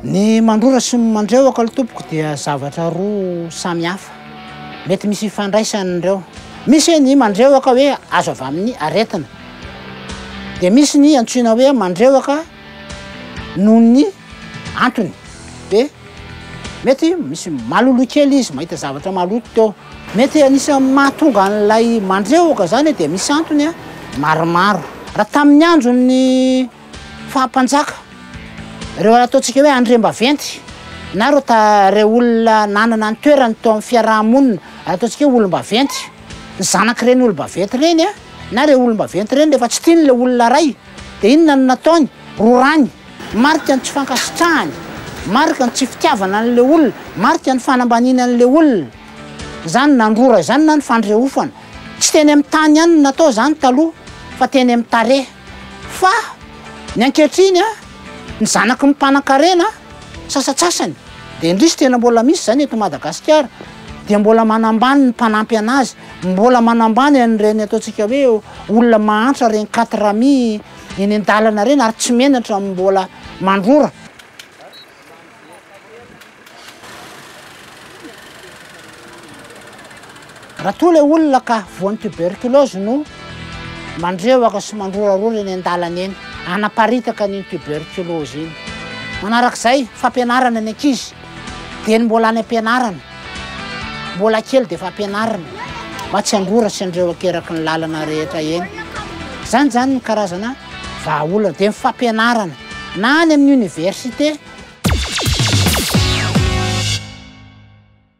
Ny mandrora sy ny mandrehoka ry tompoko dia zavatra roa samy hafa. Mety misy ifandraisany ireo. Misy ny mandrehoka hoe azo avy amin'ny aretina. Dia misy ny antsoina hoe mandrehoka noho ny antony. Dia mety misy maloloha kely izy, mahita zavatra maloto teo. Mety anisan'ny mahatonga an'ilay mandrehoka izany dia misy antony maromaro. Raha tamin'ny andron'ny faha-mpanjaka, ireo ataontsika hoe andriambaventy na ireo ta, ireo olona nanana ny toerany teo amin'ny fiaraha-monina, ataontsika hoe olom-baventy, ny zanak'ireny olom-baventy ireny na ireny olom-baventy ireny rehefa tsy tiany ilay olona iray, Dia inona no nataony? Rorany. Marika ny tsy fankasitrahany. Marika ny tsy fitiavana an'ilay olona. Marika ny fanambaniany an'ilay olona. Izany nandrora izany na ny fandrehofana. Tsy teny amin'ny tany ihany no natao izany taloha fa teny amin'ny tarehy. Fa ny ankehitriny, ny zanaky ny mpanankarena sasatsasany, dia indrisy tena mbola misy izany eto Madagasikara, dia mbola manambany ny mpanampy anazy. Mbola manambany an'ireny ataontsika hoe olona mahantra ireny quatre amis eny an-dalana ireny ary tsy menatra amin'ny mbola mandrora. Raha toa ilay olona ka voan'ny tuberculose no mandrewaka sy mandrorarora eny an-dalana eny, hanaparitaka an'iny tuberculose iny. Manarak'izay, fampianarana ny ankizy. Dia ny mbola any am-pianarana, mbola kely dia efa ampianarina mba tsy hangoratra an'ireo akeraky ny lalana rehetra eny. Izany izany no karazana vahaolana. Dia ny fampianarana na any amin'ny oniversite.